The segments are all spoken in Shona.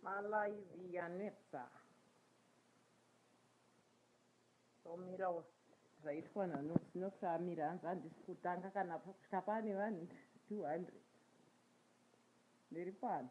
Malaivi yanetsa. Tomirawo zvaitwa naNosi. Nosi amira hanzi handisi kutanga kana kusvika pane vanhu 200. Ndiri pano.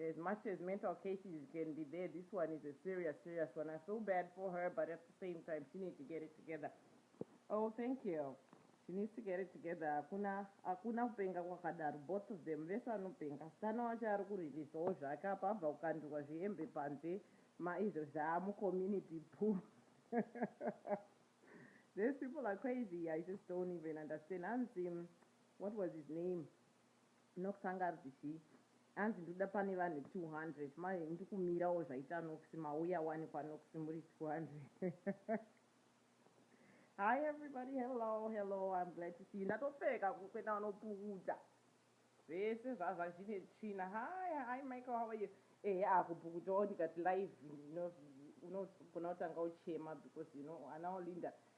As much as mental cases can be there this one is a serious serious one I feel bad for her but at the same time she need to get it together oh thank you she needs to get it together hakuna hakuna kupenga kwakadaro both of them vese vanopenga asikana wacho ari kurilisawo zvake apa abva kukandirwa zvihembe panze maizvo zvaa mucommunity puu These people are crazy I just don't even understand hanzi what was his name Nox anga arikuti chii anzi ndoda pane vanhu 200 manje ndikumirawo zvaita Nox mauya wani kwaNox muri 200 Hi everybody hello hello I'm glad to see you ndatopfeka kukwena vanopukutsa zvese zvazva zvine tsvina Hi hi Michael how are you ehe akupukutawo ndikati live unogona kutanga uchema because you know ana Olinda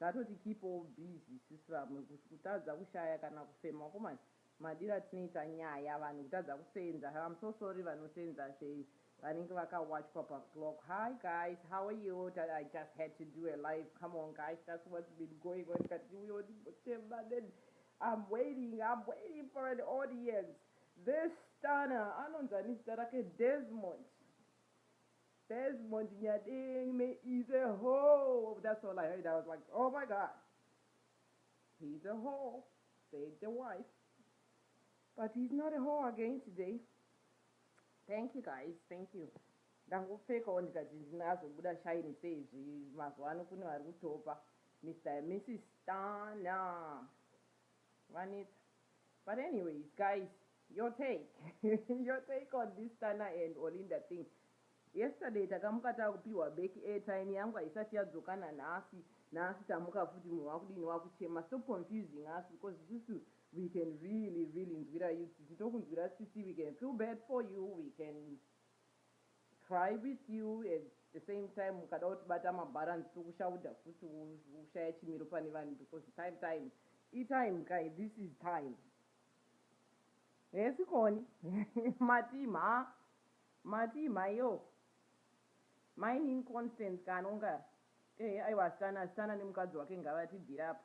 Ngatoti keep all busy isu vamwe kutadza kushaya kana kufema vakomana madiro atinoita nyaya vanhu kutadza kusenza I'm so sorry vanosenza zve vanenge vakawachwa pa clock Hi guys how are you I just had to do a live come on guys that's what's been going on ndikati ndiuyewo ndimbochema then I'm waiting I'm waiting for an audience this stunner anonzi ani zita rake Desmond Desmond Nyadengme is a whore that's all I heard I was like oh my god he's a whore said the wife but he's not a whore again today thank you guys thank you ndangopfekawo ndikati ndinazobuda shaini seizvi mazuva ano kune vari kutopa mr and mrs stana vanetsa But anyways guys your take your take on this Tana and Olinda thing yesterday takamuka takupihwa back airtime yangu haisati yadzoka nanhasi nhasi tamuka futi munhu wakudini wakuchema stop confusing us because isusu we can really really nzwira you tsitsi tokunzwira tsitsi we can feel bad for you we can Cry with you at the same time ukada kutibata mabalance tokushauda futi woshaya chimiro pane vanhu because time time itime kai this is time hesi koni matii mhaa matii mhaioo mainini Constance kanongara ehe aiwa asikana asikana nemukadzi wake ngavatibvire apa.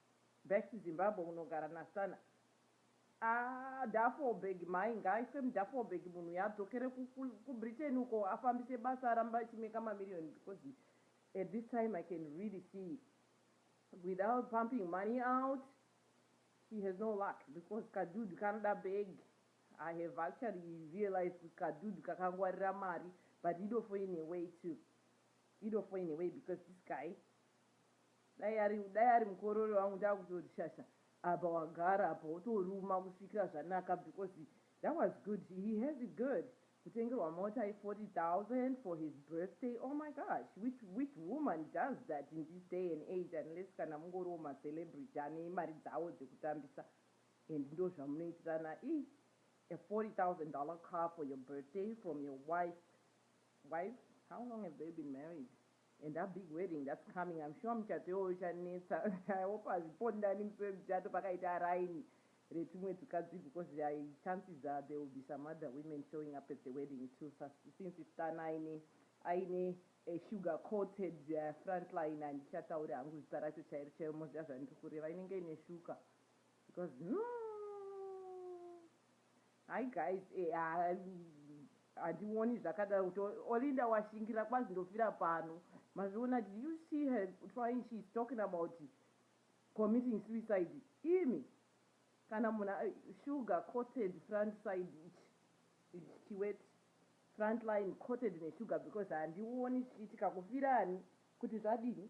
Best Zimbabwe unogara nasana. Aah Duffelberg mhai ngaaiswe muduffelberg munhu uyu adzokere ku Britain uko afambise basa aramba achi maker ma million because at this time I can really see without pumping money out he has no luck because kadudu kanoda bag I have actually realized kuti kadudu kakangwarira mari but idofo in a way too idofo in a way because this guy Dai ari dai ari mukorore wangu ndakutoti shasha apa wagara apa wotoruma kusvikira zvanaka because that was good he has it good kutengerwa mota ye 40,000 for his birthday oh my gosh which which woman does that in this day and age unless kana mungoriwo ma celebrity ane mari dzawo dzekutambisa and ndozvamunoitirana ii a 40,000 dollar car for your birthday from your wife wife how long have they been married And a big wedding that's coming I'm sure muchato iwoyo uchanetsa I hope hazvipondani musi wemuchato pakaita raini retumwe tukadzi because chances are there will be some other women showing up at the wedding too since it's Tana aine aine a sugar coated uh, front line handichataure hangu zita racho chairo chairo moziva zvandiri kureva inenge ine shuka because no Hi guys eeaa handioni zvakadaro kuti Olinda washingira kwazi ndofira pano mazviona did you see her trying she is talking about committing suicide imi kana munhu sugar coated front side ichi ichi chiweti front line coated nesugar because handioni zvichiitika kufira ani kuti zvadini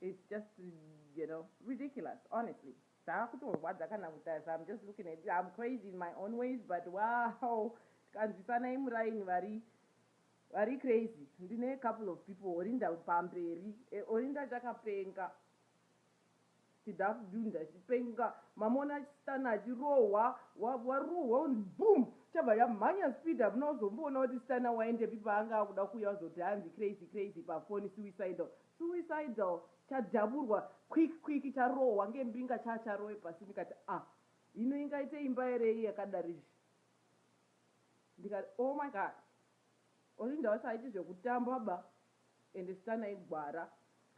It's just you know ridiculous honestly zvakutorwadza kana kutarisa I'm just looking at you I'm crazy in my own ways but wow tikanzwisanai muraini vari vari crazy ndine couple of people Orinda pamberi eh, Orinda chakapenga Tida kudunda achipenga mamuona achistanner achirohwa warohwa wonzi boom chabva yamhanya speed hamuna kuzomboona kuti stanner waendepi paanga akuda kuuya wazoti hanzi crazy crazy pafoni suicidal suicidal chadhaburwa quick quick charohwa ngembinga chaa charowe pasi ndikati ah hino ingaite imba ere iyi yakadaro izvi ndikati oh my god Olinda wasaiti zvekutamba ba Ende stan aigwara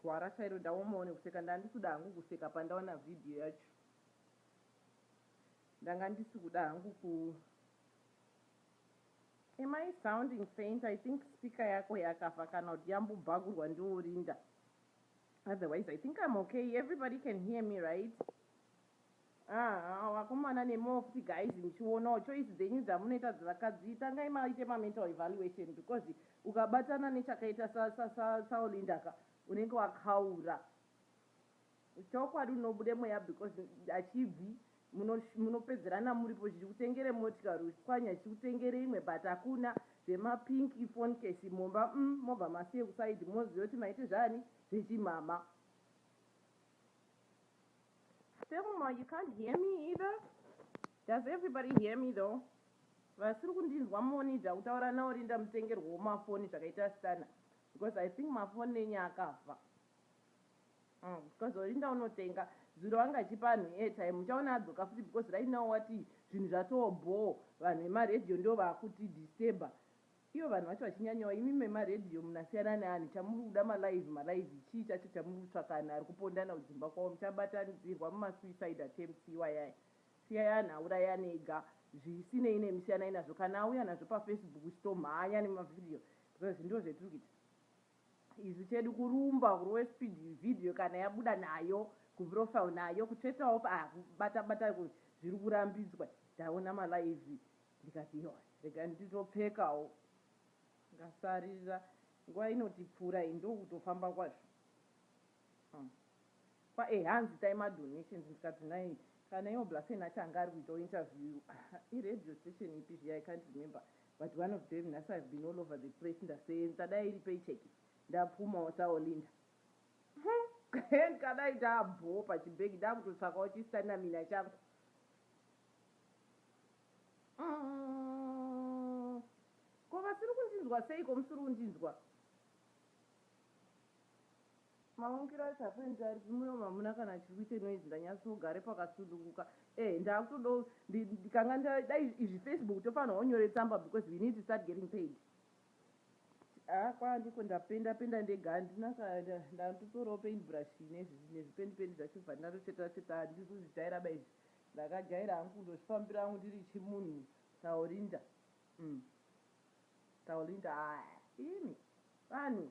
gwara chairo ndaomawo nekuseka ndandisikuda hangu kuseka pandaona video yacho ndanga ndisikuda hangu ku Am I sounding faint I think speaker yako yakafa kana kuti yambobhagurwa ndiwo Linda otherwise I think I'm okay everybody can hear me right Haa vakomana nemofti guys muchionawo choice dzenyu dzamunoita dzevakadzi tangai maite mamental evaluation because ukabatana nechakaita sa sa sa saolinda ka unenge wakaura chokwadi unobude mweya because hachibvi muno munopedzerana muripo zvichikutengere motikari uchipwanya zvichikutengere imwe but hakuna zvemapink ifonkesi mumba umm mobva masiye kusaid moziva kuti maite zvaani zvechimhamha Thelma, you can't hear me either? Does everybody hear me though? Vasiri kundinzwa monija kutaura naOrinda mutengerwewo mafoni zvakaita stunner because I think mafoni enyu akafa. Mm, because Orinda unotenga zuro anga achipa anhu airtime uchaona adzoka futi because right now wati zvinhu zvatoo bhoo vanhu vemaradio ndo vakuti disturber Iyo vanhu vacho vachinyanyawo imi mema radio munasiyana neani chamuri kuda ma live ma live chii chacho chamuri kutsvaka anhu ari kupondana kudzimba kwavo muchabatanidzirwa muma suicide attempts iwayaya siyai anhu aurayane ega zvisinei nemi siyanai nazvo kana auya nazvo pa Facebook chitomhanya nema video because ndoo zvetiri kuita isu chedu kurumba kurove speed video kana yabuda nayo ku profile nayo kutsvetawo pakubatabata zviri kurambidzwa taona ma live Ndikati yohs regai nditopfekawo ndikasarira nguva inotipfuura iyi ndokutofamba kwazvo umm kwaye hanzi itai madonations ndikati nhai kana iwo Blasen acho anga ari kuitawo interview i radio station ipi zviya i can't remember but one of them nhasi I've been all over the place ndaseenza dai iri paycheck ndapfumawo sa Olinda umm ndikadai ndaa bhoo pachibag ndakutotsvakawo chi stamina changu. Umm ko vasiri kundinzwa seiko musiri kundinzwa. Maungira acho hakuendi ari muromo hamuna kana chiri kuita noise ndanyatsogara pakasununguka eeh ndakutodawo ndikanga ndadai izvi Facebook tofanirwa unyore tsamba because we need to start getting paid haa ah, kwaa ndiko ndapenda penda ndega handina ndatotorawo paint brush nezvipendi pendi zvacho bva ndatotsvetera tsvetera handiri kuzvijaira ba izvi Ndakajaira hangu kundozvifambira hangu ndiri chimunhu Taulinda umm Taulinda haa imi vanhu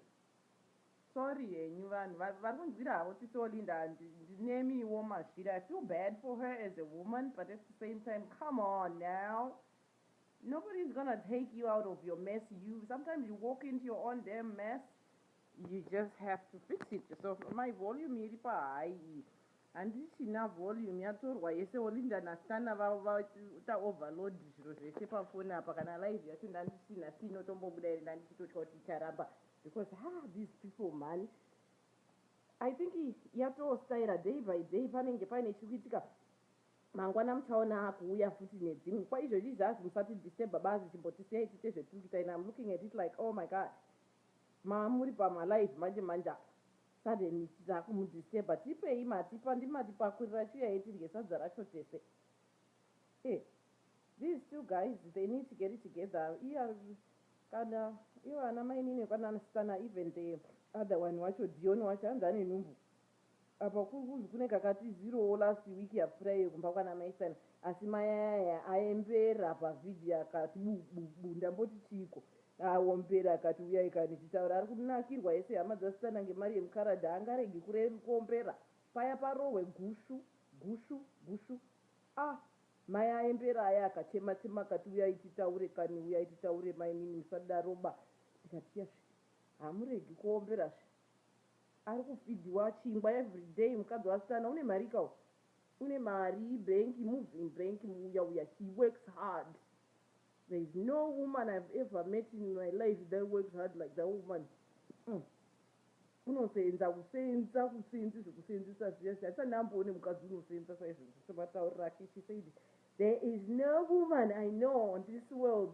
sorry henyu vanhu varikunzwira havo tsitsi or Linda and ndinemiwo mazviri I feel bad for her as a woman but at the same time come on now nobody is gonna take you out of your mess you sometimes you walk into your own damn mess You just have to fix it yourself amai volume iri pa high iyi handichina volume yatorwa yese Olinda na Stana vavo vaita overload zviro zvese pa phone apa kana live yacho ndandichina si inotombobuda here ndandichitotya kuti icharamba because haa these people mhani I think yatoo styra day by day panenge paine chiri kuitika mangwana muchaona akuuya futi nedzimwe kwaizvozvi zvazi musati disturba bazi chimbotisiyai tiite zvetiri kuita and I'm looking at it like oh my god Mama muri pama live manje manje apa suddenly takumu disturber tipei matipa ndimatipakurira chiuyai tidye sadza racho tese eh these two guys they need to get it together iya kana ivo ana mainini vekwanana Sithana even the other one wacho Dion wacho hanzi ane nhumbu Apa kuri kunzi kune kakatizirowo last week yapfuurayiyo kumba kwana mai Sani asi mai aya aembera pa video akati bu bu bu ndamboti chiiko aombera akati huyai kani tichitaura ari kunakirwa ese hama dzasitana ngemari yemukaradhi haangaregi kuombera paya parohwe gusvu gusvu gusvu ah mai aembera aya akachema chema akati huyai titaure kani huyai titaure mainini musadaroba ndikati yasvi hamuregi kuombera zve. Ari kufidhiwa chingwa everyday mukadzi wasikana une marika uyu une mari ibank move in bank muuya uya he works hard there is no woman I've ever met in my life that works hard like that woman umm unoseenza kuseenza kuseenzi zvekuseenzesa zviya zviya handisati ndamboone mukadzi unoseenza saizvo ndisematariro ake she said there is no woman I know on this world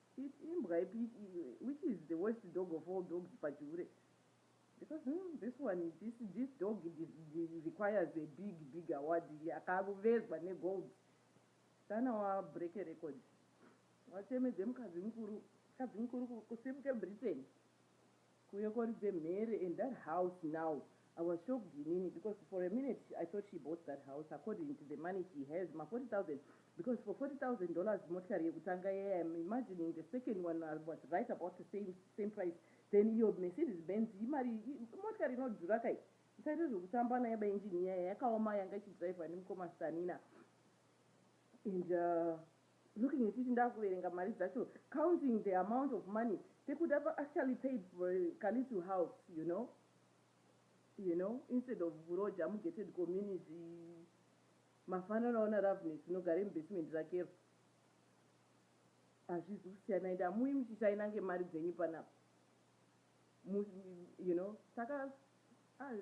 It imbwa ipi which is the worst dog of all dogs pajure because umm this one this this dog requires a big big award akavezwa ne gold sana wa break record wachemedze mukadzi mukuru mukadzi mukuru kusimuke Britain. Kuuya koridze mhere and that house now I was shocked inini because for a minute I thought she bought that house according to the money she has ma 40,000 because for 40,000 dollars motikari yekutanga iya I am imagining the second one I was right about the same same price then iyo Mercedes Benz imari imotikari inodhura ka iyi musaite zvekutamba nayo ba engine iya yakaoma yanga ichidriver nemukoma Stanina and uh, Looking at it ndakuverenga mari dzacho counting the amount of money tekuti apa actually paid for ka little house you know you know instead of kuroja mu gated community mafanana ona Loveness unogare mu basement rakero hazvizi kusiyana ende hamuyi muchishaina ngemari dzenyu panapa you know saka ah,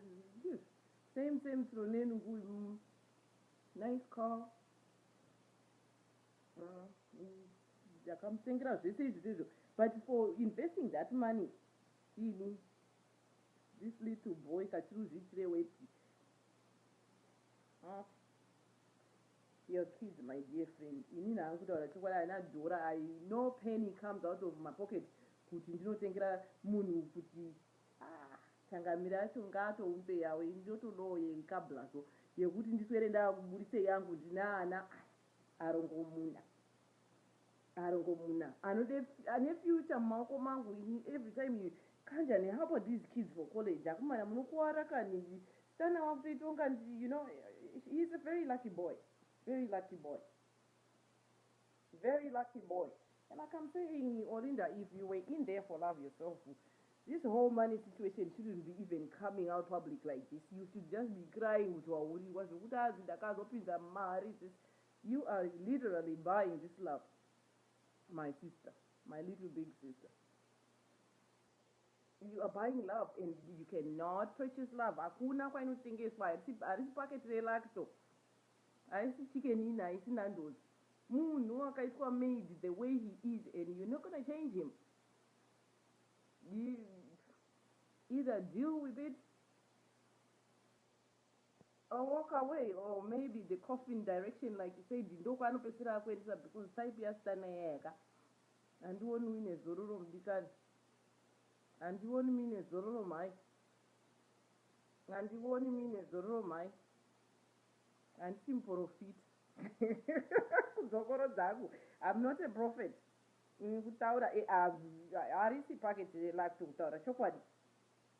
same same sronenungu nice call ndakamusengera zvese izvi zvezvo but for investing that money ini this little boy kachiri uzviitire wepi ah, your kids my dear friend ini nahangu kutaura chokwadi haina dhora i no penny comes out of my pocket kuti ndinotengera munhu kuti Haa changamire acho ngaatoumbe yawo ini ndotodawo yemkablazo yekuti ndiswere ndakuburitse yangu ndine ana aya arongomuna arongomuna anode ane future mumaoko mangu ini every time you kanja ne helper these kids for college akomana munokuwara kani stana wakutoita unga you know he is a very lucky boy very lucky boy Very lucky boy and like I'm saying Olinda if you were in there for love yourself this whole money situation shouldn't be even coming out public like this you should just be crying kuti wahurigwa zvekuti hanzi ndakazopinza mari this you are literally buying this love my sister my little big sister you are buying love and you cannot purchase love hakuna kwainotengeswa harisi paketi relacto haisi chicken ina haisi nandozi Munhu wakaitwa made the way he is and you're not gonna change him either deal with it or walk away or maybe the coffin direction like you said ndokwaanopedzisira akuendesa because type yasitana yayaka handioni uine zororo mudikani handioni muine zororo mhai handioni muine zororo mhai Handisi muporofita kudzokorodza hangu I'm not a prophet mm, kutaura eh, harisi packet relax kutaura chokwadi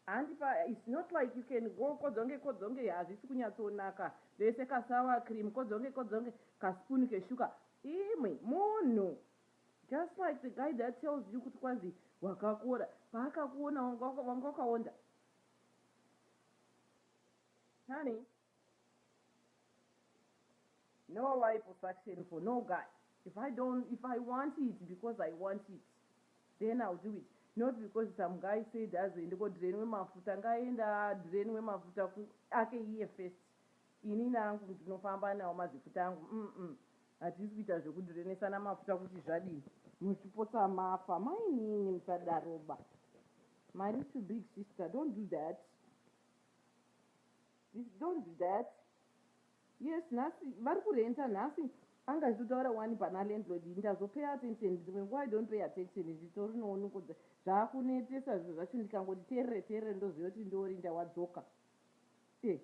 handi pa it's not like you can go kodzonge kodzonge hazvisi kunyatsonaka vese kasawa cream kodzonge kodzonge kaspoon keshuka imwe munhu just like the guy that tells you kuti kwanzi wakakora paakakuona wanga wakaonda honey No liposuction for no guy if I don't if I want it because I want it then I'll do it not because some guy said azoende ko drainwe mafuta ngaaende a drainwe mafuta ku ake iye first inini angu ndinofamba nawo mazifuta angu umm hatisi kuita zveku drainesana mafuta kuti zvadini muchipotsa mafa mainini musadaroba mari too big sister don't do that This don't that yes nhasi vari kurenta nhasi anga achitotaura wani pana landlord ini ndazopay attention dzimwe nguva i don't pay attention zvitori nooniko zvakunetesa zvinhu zvacho ndikangoti terere terere ndoziva kuti ndiorinda wadzoka e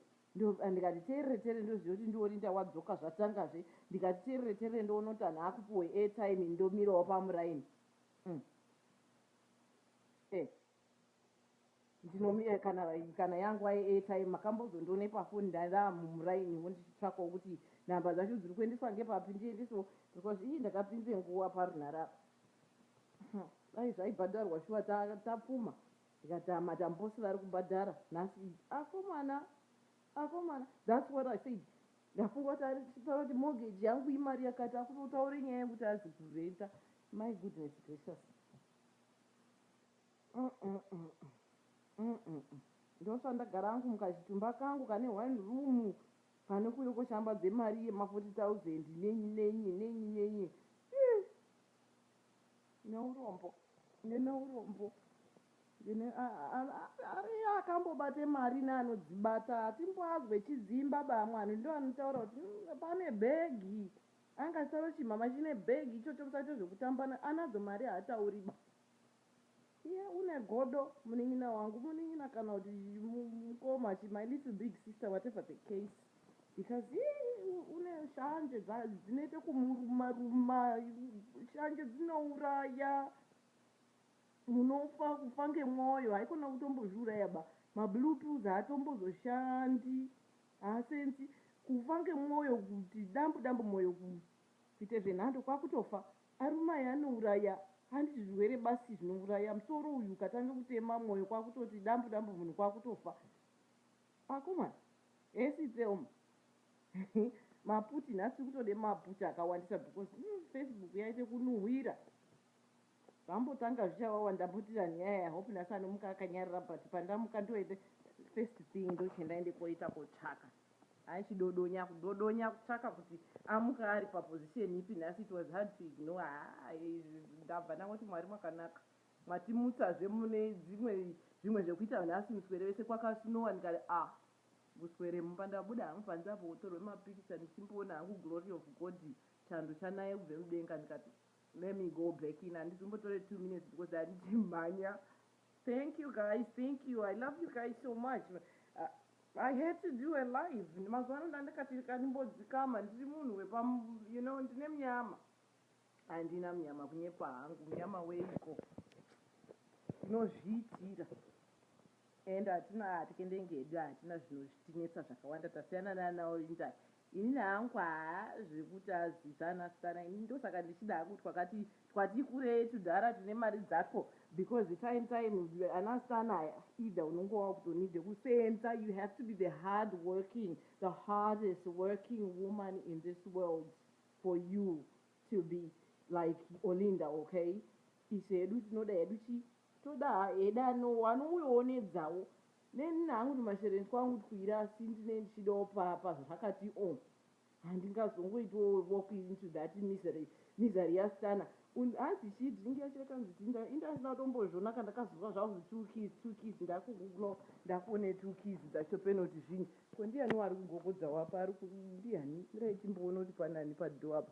ndikati terere terere ndoziva kuti ndiorinda wadzoka zvatangazve ndikati terere terere ndoona kuti anhu akupiwe airtime ndomirawo pamuraini mm. e Ndinomira kana kana yanguva yeairtime. Makambozondione pafoni ndava mumurainiwo ndichitsvakawo kuti nhamba dzacho dziri kuendeswa ngepapi ndiendesewo because ii ndakapinza nguva parunhare apa. Umm dai zvaibhadharwa shuwa ta tapfuma ndikati haa matambosi vari kubhadhara nhasi idzi akomana akomana that's what I said ndafunga kuti ari taura kuti mortgage yangu imari yakati akutotaura nyaya yekuti azi kurenter my goodness gracious. Umm umm umm ndosva ndagara hangu mukachitumba kangu kane one room pane kuuya koshambadza mari yema 40000 nenyi nenyi nenyi nenyi iih neurombo ndine urombo ndine ariyo akambobata mari neanodzibata hatimboazwe chidzimba bamwe vanhu ndoanotaura kuti pane bhegi Anga saro chimhamha chine bag ichocho musaite zvekutambana anadzo mari haatauri ba iye une godo munin'ina wangu munin'ina kana kuti mukoma chi my little big sister whatever the case because iye une shanje dzinoita kumuruma ruma shanje dzinouraya munofa kufa ngemwoyo haikona kutombozviuraya ba ma blue pills haatombozoshandi Haa sense kufa ngemwoyo kuti dambu dambu moyo kuita zvenhando kwakutofa arume aya anouraya handiti zvirwere basi zvinouraya musoro uyu ukatanga kutema moyo kwakutoti dambu dambu munhu kwakutofa akomana hesi Thelma maputi nhasi tiri kutoda maputi akawandisa because umm Facebook yaita kunuhwira. Zvambotanga zvichawawa ndaputira nyaya I hope nhasi anomuka akanyarara but pandamuka ndoende first thing ndochiti ndaende koita kotsvaka Haa chidodonya kudodonya kutsvaka kuti amuka ari pa position ipi nhasi it was hard to ignore Haa izvi ndabva ndangoti Mwari makanaka matimutsa zve mune dzimwe zvimwe zvekuita nhasi muswere vese kwaka snowa ndikati ah kuswere mumba ndabuda hangu panze apo wotorwe ma picture ndichimboona hangu glory of God chando chanaye kubve mudenga ndikati Let me go back in handiti umbotore two minutes because handiti mhanya thank you guys thank you i love you guys so much uh, i had to do a live mazuva ano ndandikati kandimbodzikama ndiri munhu wepa you know ndine munyama handina munyama kunyepa hangu munyama weiko unozviitira And hatina hatye ndenge hedu hatina zvinozvitinetsa zvakawanda tasiyana nana Olinda inini hangu haa zvekuti azivz anasikana inini ndosaka ndichida hangu twakati twati kurei tudhara tune mari dzako because time time anasikana aya either unenge wakutonide kuseenza you have to be the hard working the hardest working woman in this world for you to be like Olinda okay isu hedu tinoda hedu chii Toda heda no one uyo one dzawo neni hangu ndi mashereni kwangu twira asi ndine ndichidawo pa pa zvakati o handingazongoitiwo walk into that misery misery ya stana und hanzi chii drink yacho yakanzi tii nda inda ndisina kutombozviona ka ndakazonzwa zvakuzi two keys two keys ndaku googler ndakuone two keys dzacho penoti zvinyi ko ndiyani wari kugogodzawo apa ari ku ndiyani ndirai timboona kuti panani pa door apa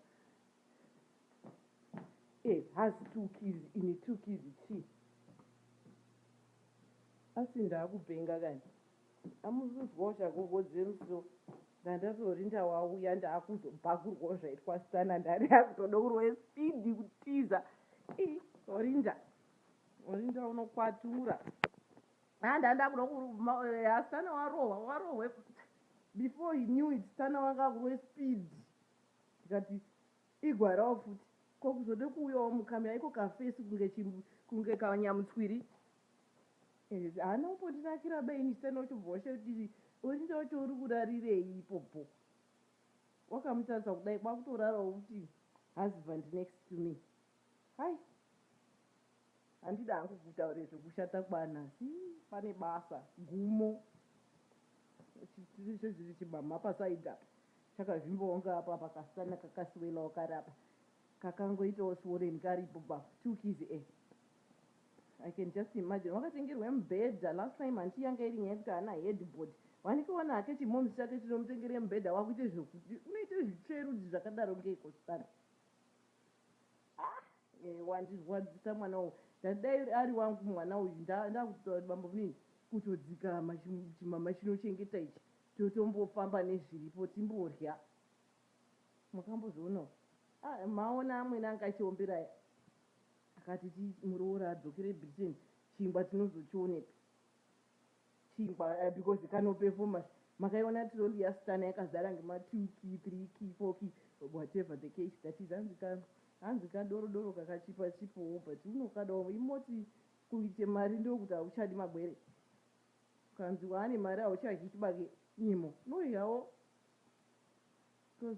Eh has two kids ini two kids chii asi ndakupenga kani amuzuzwawo chagogo James so ndandazorinda wauya ndakuzobhakurwawo zvaitwa stana ndari akutoda kurwe speed kutiza i orinda orinda unokwatura handa ndakuda eh, stana warohwa warohwe before he knew it stana wanga kurwe speed Ndikati igwarawo futi ko kuzode kuuyawo mukamya iko kafesi kunge chi kunge kanyamutswiri ehe haana kumbondinakira ba ini chitani ochobva washaya kuti Orinda wacho uri kurarirei ipopo wakamutarisa kudai kwakutorarawo futi husband next to me Hai handidi hangu kutaura zvekushata kwana asi pane basa gumo chitiri chezviri chimhamha paside apa chakazvimbawo kunge apa apa kasikana kakaswelawo kari apa kakangoitawo swollen karipo pa two keys e I can just imagine wakatengerwa mubhedha last time handiti yanga iri nyaya yekuti haana headboard wanikawana hake chimomz chake chinomutengera mubhedha wakuita zvekuti unoita zvitsverudzi zvakadaro ngeiko zvakadaro Eeh wandirwadzisa mwana uyu ndati dai ari wangu mwana uyu ndakutotaura kuti bambomini kutodzikama chimama chinochengeta ichi totombofamba nezviripo timborya makambozvionawo ah maona amwene anga achiombera aya akati muroora adzokere Britain chingwa tinozochionepi Chingwa because kano performers makaiona trolley ya stunner yakazara ngema two key three key four key whatever the case that is hanzi ka hanzi ka doro doro kakachipa chipowo but unokadawo imoti kuite mari ndokuti hauchadi magwere ukanzi waane mari hauchadyi chibage nyimo unoidyawo coz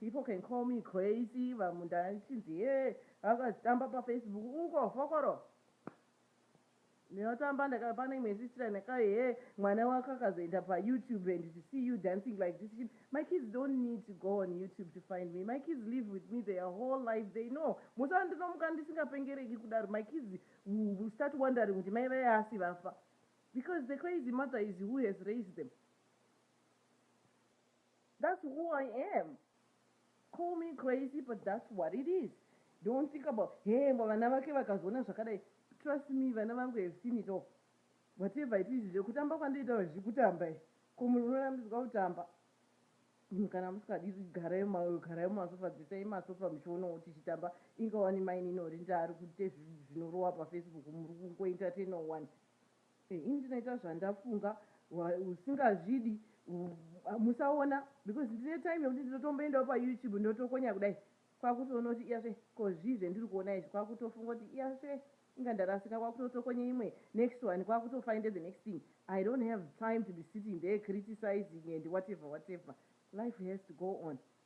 People can call me crazy vamwe ndachinzi hee vakazitamba pafacebook uko fokoro ndinotamba ndaka pane imwe sister yandakayi hee mwana wako akazoenda payoutube and to see you dancing like this chin my kids don't need to go on youtube to find me my kids live with me their whole life they know musa ndinomuka ndisingapengereki kudaro my kids will start wondering kuti mai vaye asi vafa because the crazy mother is who has raised them That's who I am call me crazy but that's what it is don't think about hee ngo vana vake vakazoona zvakadai trust me vana vangu have seen it all whatever it is zvekutamba kwandoita vazvii kutamba izvi ko munhu unorambidzwa kutamba munhu kana musikadi garai mayo garai mumasofa dzisai masofa muchionawo tichitamba inga wani mainini ori ndaari kuite zvinorowa pafacebook muri kungoentertainer wani Ini ndinoita zvandafunga usingazvidi musaona because ndine time yekuti ndinotomboendawo pa YouTube ndotokonya kudai kwakutoona kuti iyazve ko zvii zvendiri kuona izvi kwakutofunga kuti iyazve inga ndarasika kwakutotokonya imwe next one kwakutofinder the next thing I don't have time to be sitting there criticizing and whatever whatever life has to go on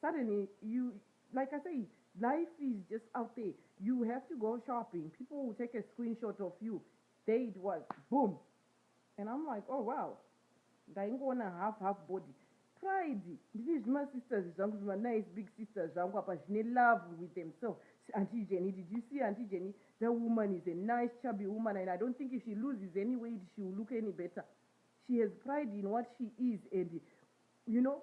Suddenly you like I say life is just out there you have to go shopping people will take a screenshot of you there it was boom and I'm like oh wow ndaingoona half half body pride ndine zvima sisters zvangu zvima nice big sisters zvangu apa zvine love with themselves auntie Jenny did you see auntie Jenny that woman is a nice chubby woman and I don't think if she loses any weight she will look any better she has pride in what she is and you know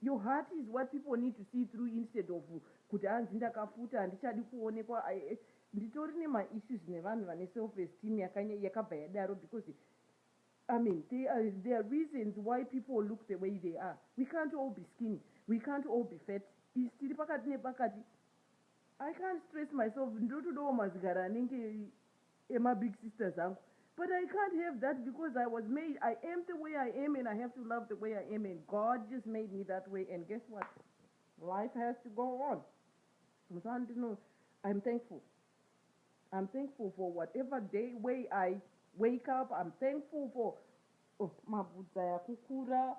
Your heart is what people need to see through instead of kuti hanzi ndakafuta handichadi kuonekwa I nditori nema issues nevanhu vane self esteem yakanya yakabva yadaro because I mean they are there are reasons why people look the way they are we can't all be skinny we can't all be fat is tiri pakati nepakati I can't stress myself ndotodawo mazigara anenge ema big sisters angu but I can't have that because I was made I am the way I am and I have to love the way I am and God just made me that way and guess what life has to go on musandino I'm thankful I'm thankful for whatever day way I wake up I'm thankful for oh, mabvudza yakukura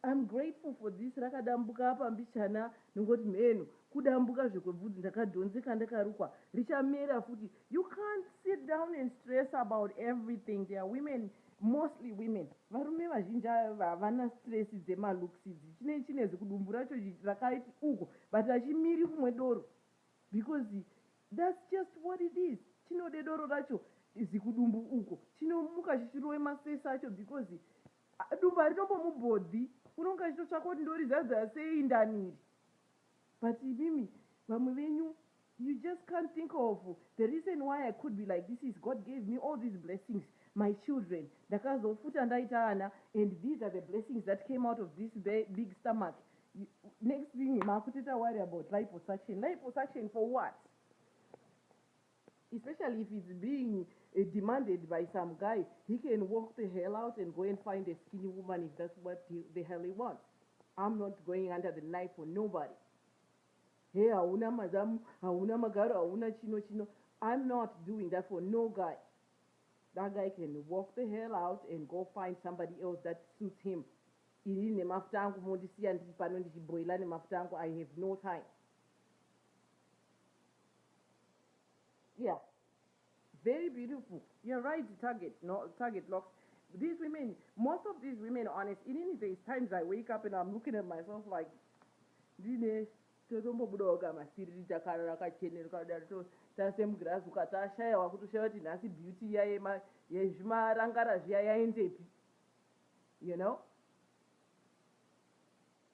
I'm grateful for this rakadambuka apa mbichana ndongoti mheno kudambuka zvekwe bvudzi ndakadhonzeka ndakarukwa richamera futi you can't sit down and stress about everything there are women mostly women varume vazhinji ava havana stress dzema looks idzi chinei chine zikudumbu racho rakaiti uko but hachimiri kumwe doro because that's just what it is chinode doro racho zikudumbu uko chinomuka chichirove masese acho because Haa dumbu haritombomubhodhi unonga achitotsvaka kuti ndorizadza sei ndani iri but imimi vamwe venyu you just can't think of the reason why I could be like this is God gave me all these blessings my children ndakazofuta ndaita ana and these are the blessings that came out of this big stomach next thing makutoita worry about liposuction liposuction for what especially if it's being demanded by some guy he can walk the hell out and go and find a skinny woman if that's what the hell he wants I'm not going under the knife for nobody hey hauna mazamu hauna magaro hauna chino chino I'm not doing that for no guy that guy can walk the hell out and go find somebody else that suits him iri nemafuta angu mondisiya ndiri pano ndichiboila nemafuta angu I have no time Yeah. Very beautiful. You're right, target, no, target locks. These women, most of these women, honest, in any days, times I wake up and I'm looking at myself like, ndine totombobudawo kamasiriri takarara kachenero kadari tasemugirazi ukatashaya wakutoshaya kuti nhasi beauty iya yezvimarangara zviya yaendepi you know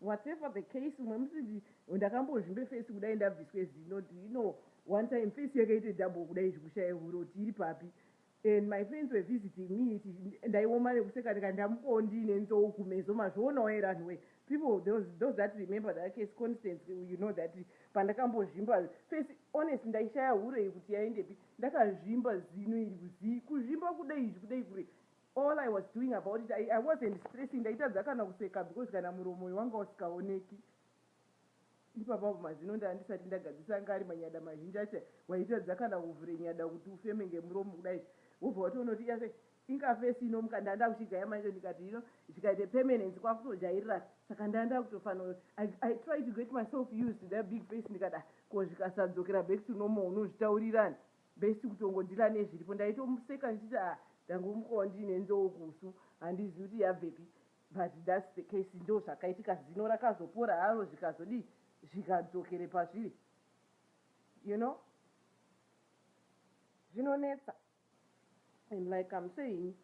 Whatever the case umwe musi ndi ndakambozvimbe face kudai ndabviswe zino do you know one time face yakaite double kudai zvekushaya hure kuti iri papi and my friends were visiting me iti ndaioma nekuseka ndikati ndamukawo ndiine nzou kumeso mazvionawo here anhu wee people those, those that remember that case constance you know that pandakambozvimba face honest ndaishaya hure iyi kuti yaendepi ndakazvimba zino iri kuzii kuzvimba kudai izvi kudai kure All I was doing about it I, I wasn't stressing ndaitadza kana kuseka because kana muromo uyu wanga usikaoneki ipapa apo mazino ndanga ndisati ndagadzisa anga ari manyada mazhinji acho waitadza kana kuvhure nyada kuti ufeme ngemuromo kudai wobva watoona kuti yake inga fesi inomuka ndanga ndakuchigaya manje ndikati you know zvikaita permanence kwakutojairira saka ndanga ndakutofanira I, I try to get myself used to that big face ndikada ko zvikasadzokera back to normal unozvitaurirani Best kutongondila nezviripo ndaitomuseka ndichiti ah ndangomuka wandiine nzou kusu handizivi kuti yabvepi but that's the case ndozvakaitika zino rakazopora haro zvikazodii zvikadzokere pazviri you know zvinonetsa and like I'm saying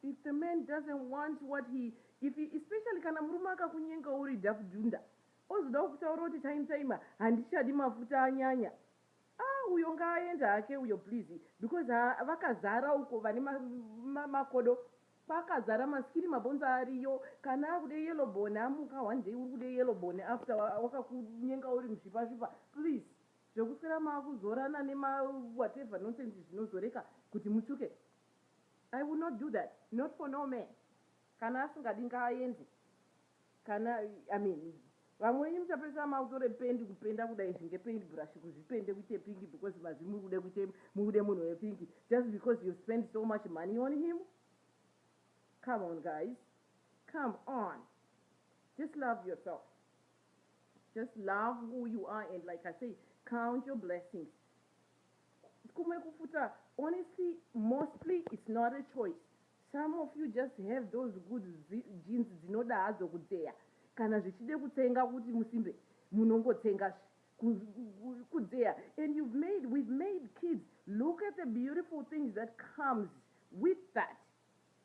if the man doesn't want what he if he, especially kana murume akakunyenga uri dakudunda Ozodawo kutaura kuti time time handichadi mafuta anyanya aah uyo ngaaende hake uyo please because haa vakazara uko vane ma makodo kwakazara ma skin mabhonzo ariyo kana akude yellow bone amuka one day uri kude yellow bone after wakakunyenga uri muzvipa zvipa please zvekuswera makuzorana nema whatever nonsense zvinozoreka kuti mutsvuke I will not do that not for no man kana asingadi ngaaende. Kana I mean vamwe venyu muchapedzisira makutora pendi kupenda kuda izvi nge paint brush kuzvipende kuite pink because mazi muri kuda kuite mubude munhu we pink just because you spend so much money on him come on guys come on just love yourself just love who you are and like I say count your blessings kumwe kufuta honestly mostly it's not a choice Some of you just have those good genes dzinoda hadzo kudzeya kana zvichide kutsenga kuti musimbe munongotsenga zve kudzeya and you've made we've made kids look at the beautiful things that comes with that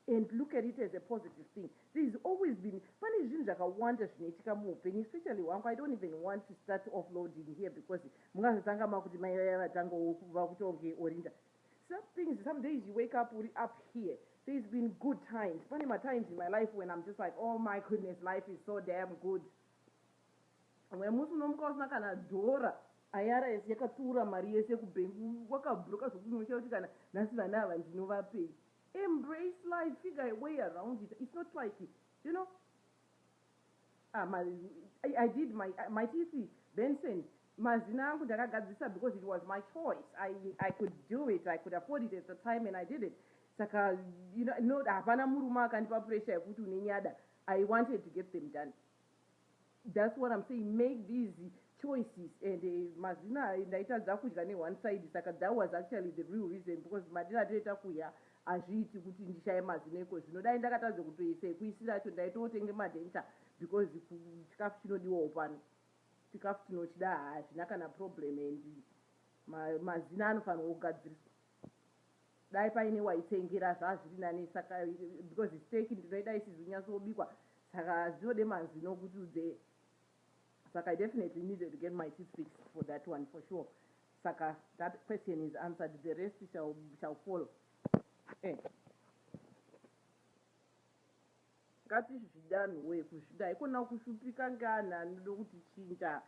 and look at it as a positive thing there is always been pane zvinhu zvakawanda zvinoitika muupenyu especially hwangu i don't even want to start offloading here because mungazotanga makuti mai vaya vatangawo vakutonge orinda Some things some days you wake up uri up here there's been good times pane matimes in my life when I'm just like oh my goodness life is so damn good umwe musi unomuka usina kana dhora IRS yakatsiura mari yese kubank wakabroka zvekuti unoshaya kuti kana nhasi vana ava ndinovapei embrace life figure a way around it it's not like you know Ah ma I, I did my, maiti isi Benson mazina angu ndakagadzirisa because it was my choice I, I could do it I could afford it at the time and I did it saka you know, no hapana murume akandipa pressure yekuti une nyada I wanted to get them done that's what I'm saying make these choices and eh, mazina ndaitadza kudya ne one side saka that was actually the real reason because madira toita kuya Hazviiti kuti ndishaye mazino ikozvino dai ndakatadza kutoisa ekuisira acho ndaitootenge madenture because chikafu chinodiwawo pano chikafu tinochida haa hazvina kana problem and mazino anofanirwa kugadziriswa dai paine waitengera zvaa zviri nane saka because steak ndinoida isizi kunyatsobikwa saka zvinode mazino kuti udzee Saka I definitely needed to get my teeth fixed for that one for sure saka that question is answered the rest shall, shall follow eh. ngatizvidanhu wee kuzvida haikona kushupika ngeanhu anoda kutichinja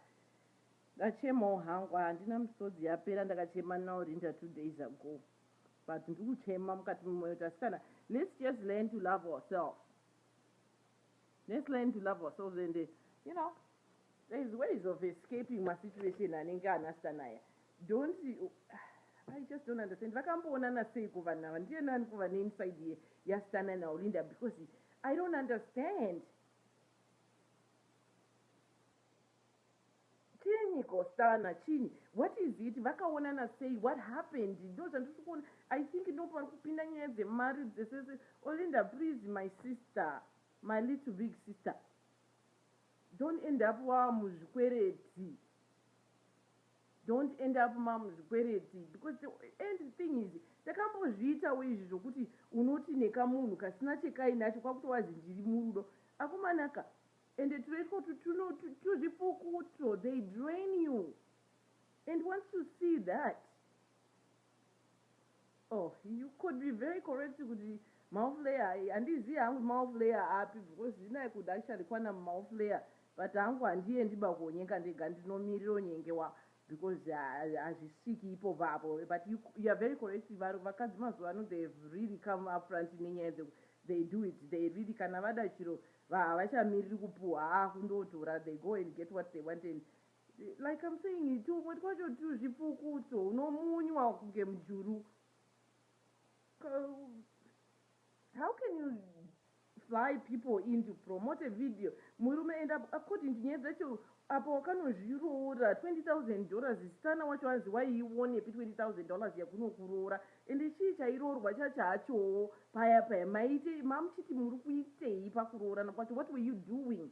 ndachemawo hangu handina misodzi yapera ndakachema naurinda two days ago but ndiri kuchema mukati memoyo tasikana let's just learn to love ourselves Let's learn to love ourselves and you know there is ways of escaping masituation anenge anasta naya don't I just don't understand vakamboonana seiko vanhu ava ndiye nani kuva neinside ye yastana naolinda because I don't understand Chiinyi ko Stana chiinyi what is it vakaonana sei what happened ndozvandirikuona I think ndoparikupinda nyaya dzemari dzese Olinda please my sister my little big sister don't end up wamuzvikwereti don't end up mamuzvikwereti because the end thing is takambozviitawo izvi zvokuti unoti nekamunhu kasina chekainacho kwakutowazi ndiri murudo akumanaka Ende turo itwotu tuno tuzvipuku utwo they drain you and once you see that oh you could be very correct kuti maoff layer handizivi hangu maoff layer api because zvino I could actually kwana mumaoff layer but hangu handiendi bakuonyenga ndega ndinomirira onyengewa because hazvisviki ipopo apo but you you are very correct var vakadzi mazuva ano they have really come up front nenyaya dze they do it they really kana vada chiro va havachamiriri kupuhwa haa kundotora they go and get what they want and like I'm saying tumwe twacho tuzvipfukutso unomunywa kunge mujuru how can you Sly people in to promote video murume and apo according to nyaya dzacho apa wakanozviroora 20000 dollars zstana wacho hanzi waiiwonepi 20000 dollars yakunokuroora ende chii chairoorwa chachachowo paya paya maiitei mamuchiti murikuitei pakuroorana kwacho what were you doing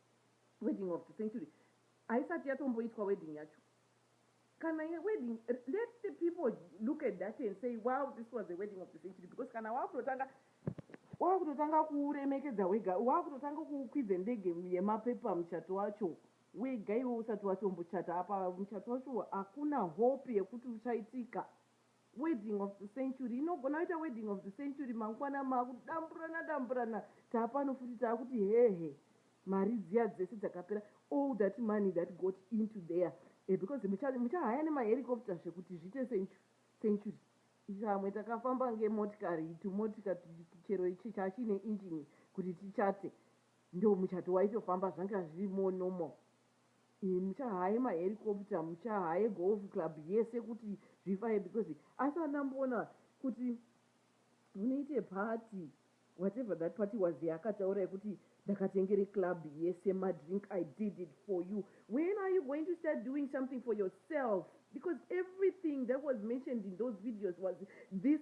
Wedding of the century haisati yatomboitwa wedding yacho kana ye wedding let the people look at that and say wow this was a wedding of the century because kana wakutotanga wakutotanga kuremekedza wega wakutotanga kukwidza ndege yemapepa muchato wacho wega iwe usati watombochata apa muchato wacho hakuna hope yekuti uchaitika Wedding of the century inogona kuita wedding of the century mangwana makudamburana damburana taapano futi taakuti hehe mari dziya dzese dzakapera all that money that got into there eh, because muchahaya nemahericopter zvekuti zviite century vamwe takafamba ngemotikari tumotika chero ichi chachine engine kuti tichate ndo muchato waitofamba zvanga zviri more normal Imi muchahaye ma helicopter muchahaye golf club yese kuti zvifaye because asi andamboona kuti munoite party whatever that party was yaakataura yekuti ndakatengere club yese ma drink I did it for you when are you going to start doing something for yourself because everything that was mentioned in those videos was this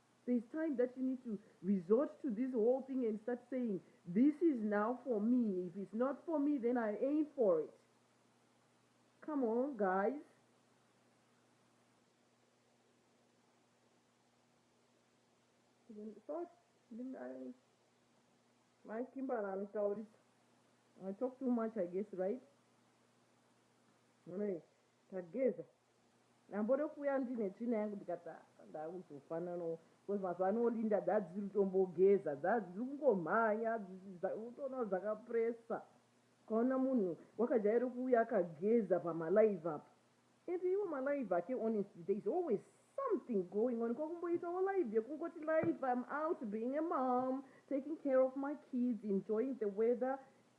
There is time that you need to resort to this whole thing and start saying this is now for me if it's not for me then I ain't for it come on guys thought ndingai mai kimbara anotaurisa i talk too much i guess right munoi tageza Ndambode kuuya ndine tsvina yangu ndikati ah ndakuzofananawo because mazuva ano Linda dzadzisiri kutombogeza dzadziri kungomhanya unotoona kuti dzakapressa ukaona munhu wakajaira kuuya akageza pamalive apa and iwo malive ake honestly there is always something going on kwakumboitawo live yekungoti live im out being a mom taking care of my kids enjoying the weather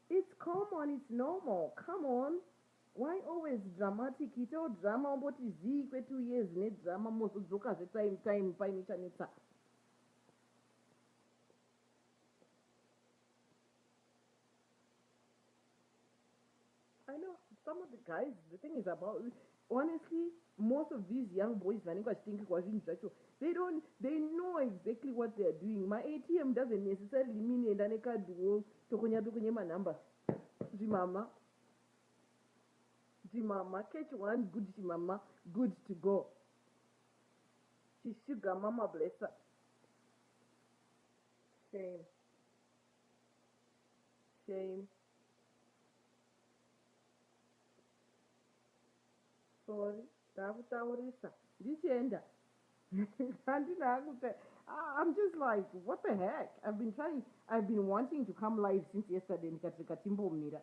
it's common it's normal come on Why always dramatic itawo drama womboti zii kwe two years ne drama mozodzoka zve time time paine chanetsa. I know some of the guys the thing is about honestly most of these young boys vanenge vachitengekwa zvinhu zvacho they don't they know exactly what they are doing ma atm doesn't necessarily mean enda nekadwo tokonya tokonya manumber zvimama Ndimama catch one good chimama good to go chi sugar mama blesser shame shame Sorry ndakutaurisa ndichienda handina hangu ta I'm just like what the heck I've been trying I've been wanting to come live since yesterday ndikati rega timbomira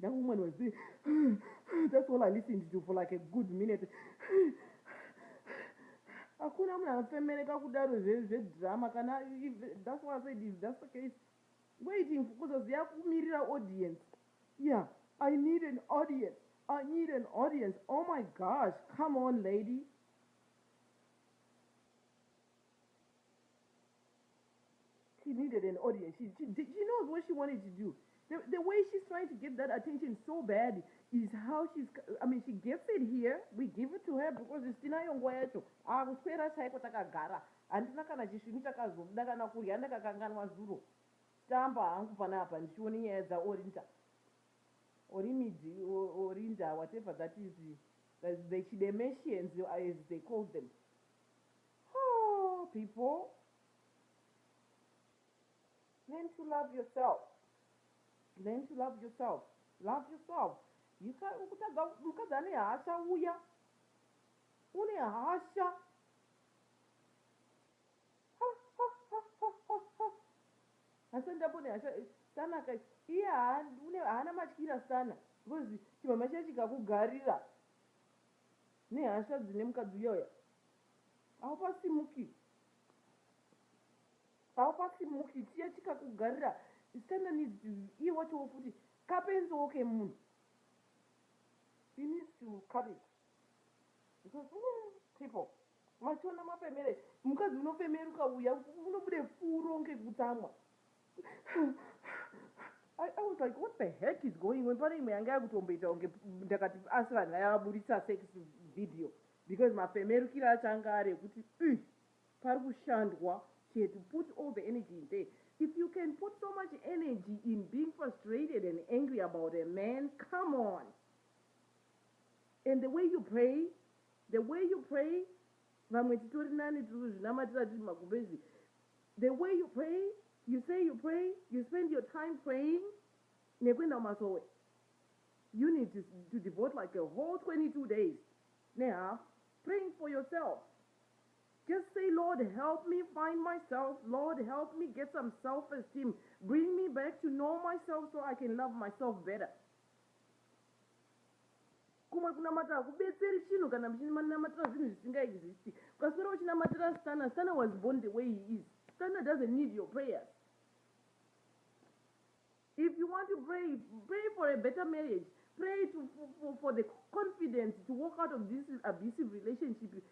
That woman was doing that's all I listened to for like a good minute. Hakuna munhu anofemereka kudaro zvedrama kana that's why I said if that's the case waiting kuzoziva kumirira audience. Yeah, I need an audience. I need an audience. Oh my gosh, come on lady. She needed an audience. She, she, did, she knows what she wanted to do. The, the way she's trying to get that attention so bad is how she's, I mean, she gets it here. We give it to her because it's tinayo nguva yacho. Akuswera chaiko takagara. Handina kana chisvinu chakazobuda kana kurya ndakakanganwa zuro. Tamba hangu panapa ndichione nyaya dzaOrinda. Orimidi, Orinda, whatever that is, the, the Chidemeshians as they called them. Hoo people learn to love yourself learn to love yourself love yourself ukutadza mukadzi ane hasha uya une hasha asi ndambone hasha eh, sana ka iye haana matyira sana because chimama chiya chikakugarira Nehasha dzine mukadzi uya uya haupasimuki haupasimuki chiya chikakugarira Satan needs to iye wachowo futi kapenziwo kemunhu he needs to cut it because mm, people machiona mafemere mukadzi unofemeruka uya unobude furo ngekutsamwa I, I was like what the heck is going on pane imwe yanga yakutomboita kunge ndakati asi vanhu vaya vaburitsa sex video because mafemerukiro acho anga ari ekuti uh, pari kushandwa she had to put all the energy in there if you can put so much energy in being frustrated and angry about a man come on and the way you pray the way you pray vamwe titori nani tiri kuzvinamatira tiri magumbezi The way you pray, you say you pray, you spend your time praying nekuenda kumasowe you need to, to devote like a whole 22 days nehalf praying for yourself just say lord help me find myself lord help me get some self esteem bring me back to know myself so i can love myself better Kumwe kunamata hakubetseri chinhu kana muchinamatira zvinhu zvisinga existi. Ukaswera uchinamatira Stunner, Stunner was born the way he is. Stunner doesn't need your prayers. If you want to pray, pray for a better marriage. Pray to, for, for the confidence to walk out of this abusive relationship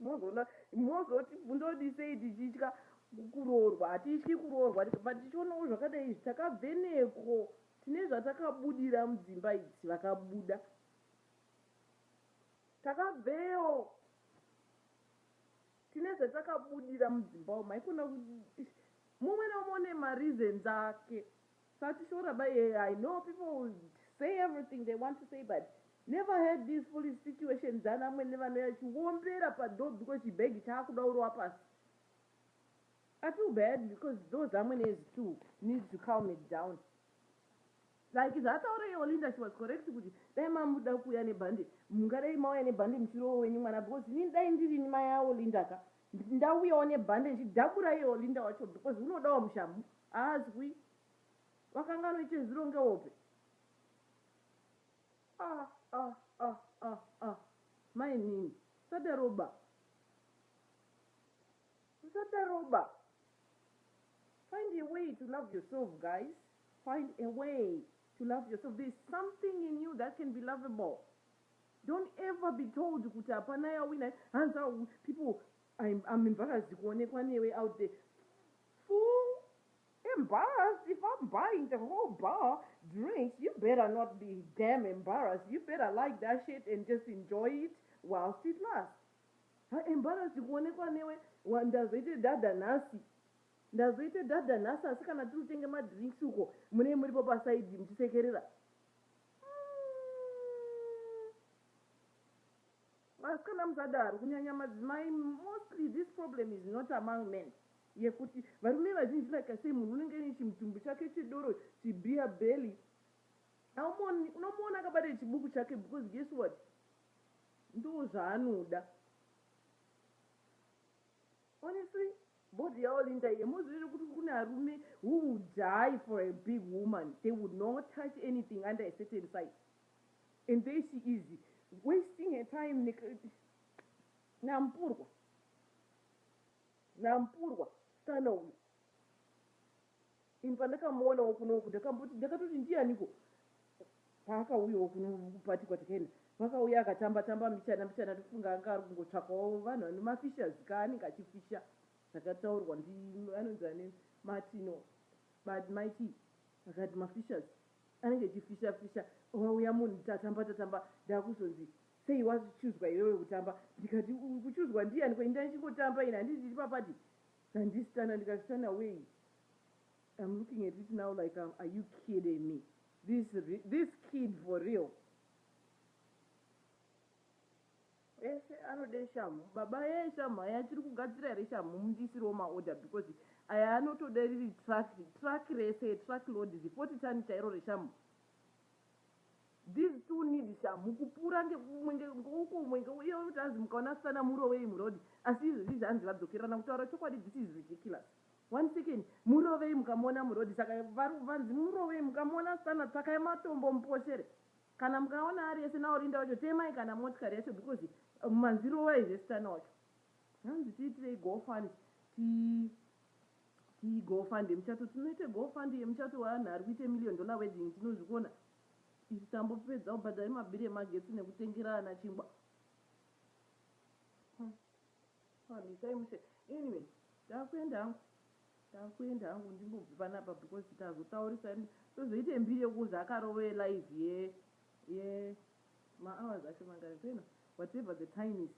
mozoona mozoti bvunzoti sei tichitya kuroorwa hatityi kuroorwa but tichionawo zvakadai izvi takabveneko tine zvatakabudira mudzimba idzi vakabuda takabveyo tine zvatakabudira mudzimba umu haikona mumwe naumwe une mareasons ake Satishora ba here I know people will say everything they want to say but never heard these foolish situations dzana amwene vanouya vachiombera padoor because chibag chaakuda urowa pasi I feel bad because those amwenes too need to calm it down like zvaataura iye Olinda she was correct kuti dai mamuda kuuya nebhande mungadai mauya nebhande muchirowo wenyu mwana because inini dai ndirini mai aOlinda ka Nditi ndauyawo nebhande ndichidabura iye Olinda wacho because unodawo mushamhu haazwi. Wakanga anoita zvironge hope. Ah ah ah ah ah mainini usadaro ba. Usadaro ba. Find a way to love yourself guys. Find a way to love yourself. There is something in you that can be lovable. Don't ever be told kuti hapana yawina hanzi awu people I'm, I'm embarrassed kuonekwa newe out there fool embarrassed if I'm buying the whole bar drinks you better not be damn embarrassed you better like that shit and just enjoy it whilst it lasts ha embarrassed kuonekwa newe wa- ndazoite dhadha nhasi ndazoite dhadha nhasi asi kana tiri kutenge madrinks uko munee muripo pasaidhi muchisekerera Vasikana musadaro kunyanya madzimai mostly this problem is not among men yekuti varume vazhinji like I say munhu unenge ane chimutumbu chake chedoro chibeer belly haumoni unomuona akabata chibuku chake because guess what ndoo zvaanoda Honestly body ya Olinda iyi hamuzvizive kuti kune arume who will die for a big woman they would not touch anything under a certain size and there she is wasting her time ne nampurwa nampurwa mskana uyu Ini pandakamuonawo kuno uku ndakamboti ndakatoti ndiyaniko paakauyawo kuno kupati kwatakaenda pakauya akatamba tamba mbichana mbichana ndofunga anga ari kungotsvakawo vanhu vane mafishes ka anenge achifisha zvakataurwa ndi anonzi ane matino but maiti akati mafishes anenge achifisha fisha wauya munhu tatamba tatamba ndakuzonzi sei wachuzwa iwewe kutamba ndikati kuchuzwa ndiyaniko ini ndaichingotamba ini handiti ndiri papati handisitana ndikasitana wei I'm looking at it now like are you kidding me this this kid for real ese anode shamhu baba ye shamhu aya achiri kugadzira here shamhu mundisirewo maorder because aya anotoda riri truck truck rese truck load zifoti tani chairo reshamhu these two need shamhu kupura ngemwenge ngouko mwenge uye unotanzi mukaona asana murowei murodi asi izvozvi zvanzi vadzokerana kutaura chokwadi this is ridiculous One second murovei mukamuona muroad saka vari vanzi murovei mukamuona asitana tsvakai matombo muposhere kana mukaona ari ese naOrinda wacho temai kana motikari yacho because manzi rovai zve sitana wacho hanzi tiitirei go fund ti ti go fund yemuchato tinoite go fund yemuchato weanhu ari kuite million dollar wedding tinozvikona isu tambopedza kubhadhara mabhiri emagetsi nekutengera ana chingwa Haa misai mushe anyway ndakuenda hangu ndakuenda hangu ndimbobve panapa because tazotaurisa tozoita mbiri yekuuza akarovee live ye ye ma hours acho mangani peno whatever the time is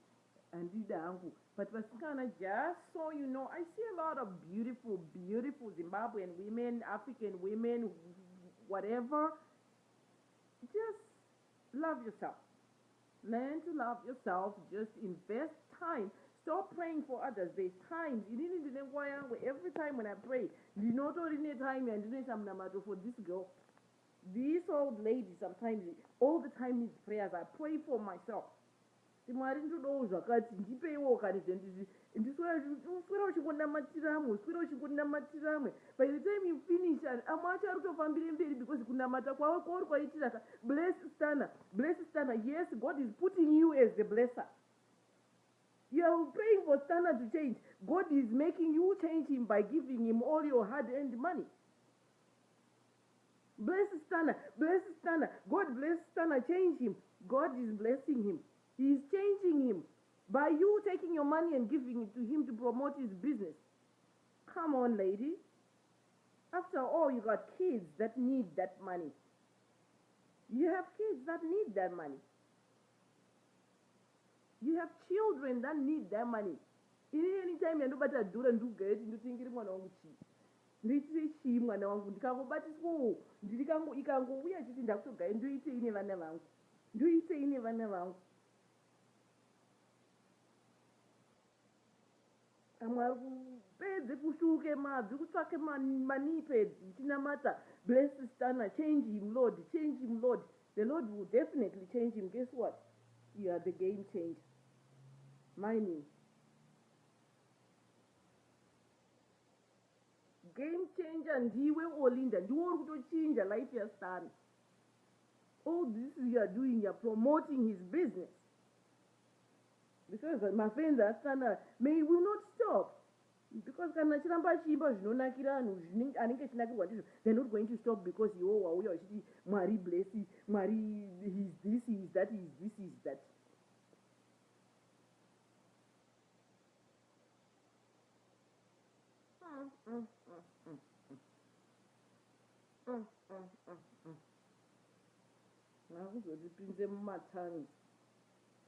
handida hangu but vasikana just so you know I see a lot of beautiful beautiful Zimbabwean women African women whatever just Love yourself learn to love yourself just invest time stop praying for others there's times inini ndine nguva yangu every time when i pray ndinotori netime yandinoita munamato for this girl this old lady sometimes all the time needs prayers i pray for myself Kuti Mwari ndodawo zvakati ndipeiwo kani zve ndizvi ndiswera uchingonamatira amwe uswera uchingonamatira amwe by the time you finish and amwe acho arikutofambire mberi because kunamata kwavo kwauri kwaitira ka bless stunner bless stunner yes God is putting you as the blesser You are praying for Stana to change. God is making you change him by giving him all your hard earned money. Bless Stunna bless Stunna God bless Stunna change him God is blessing him he is changing him by you taking your money and giving it to him to promote his business come on lady after all you got kids that need that money you have kids that need that money you have children that need that money ini anytime yandobata dhura ndikugaiti ndotengere mwana wangu chii Ndoitire chii mwana wangu ndikangobatiswawo ndiri kangu ikangouya ichiti ndakutogai ndoitei nevana vangu ndoitei nevana vangu amwe ari kupedze kushuke mabvi kutsvake manii pedzi ichinamata bless stana change him lord change him lord the lord will definitely change him guess what you are the game changer mine Game changer ndiwe Olinda ndiwe uri kutochinja life yaStana. All this you are doing you are promoting his business because mafenzi aStana may will not stop because kana achiramba achiimba zvinonakira vanhu anenge achinakirwa ndizvo they're not going to stop because iwo wauya uchiti mwari bless mwari his this his that his this his that vakuzotipinze mumatsanzi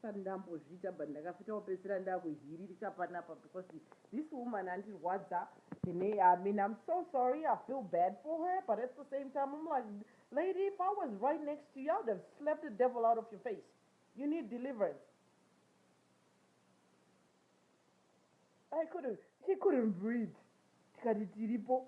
sati ndambozviita but ndakafita kupedzisira ndakuhiririka panapa because this woman andirwadza ine i mean i'm so sorry i feel bad for her but at the same time i'm like lady if i was right next to you i would have slapped the devil out of your face you need deliverance I couldn't, she couldn't breathe. Tikati tiripo,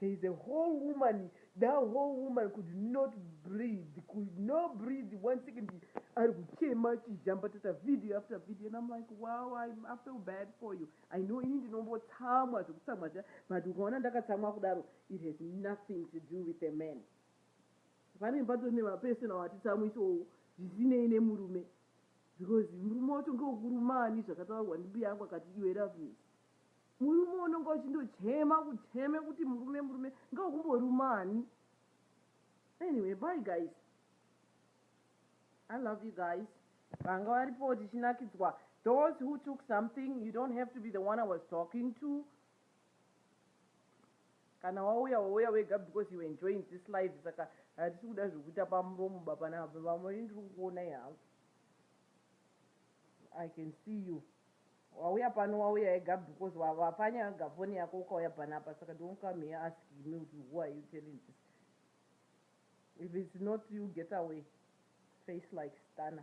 there is a whole woman, that whole woman could not breathe, could not breathe, one second ari kuchema achijamba tata video after video and I'm like wow I, I feel bad for you. I know ini ndinombotsamwa zvekutsamwa zviya but ukaona ndakatsamwa kudaro it has nothing to do with a man. Pane patori nemapersonal atitsamwisowo zvisinei nemurume. Because murume wacho ngewekuruma ani zvakataurwa ndimbuya yangu akati iwe Loveness murume unonga uchindochema kucheme kuti murume murume ngewekumboruma ani anyway bye guys I love you guys vanga varipo tichinakidzwa those who took something you don't have to be the one I was talking to Kana wauya wauya wega because you enjoying this life saka hatisi kuda zvekuita pamuromo baba nababa vamwe ini ndiri kukuonai hangu I can see you wauya pano wauya ega because wapanyanga foni yako ukauya panapa saka don't come here asking me kuti who are you telling this if it's not you get away face like stana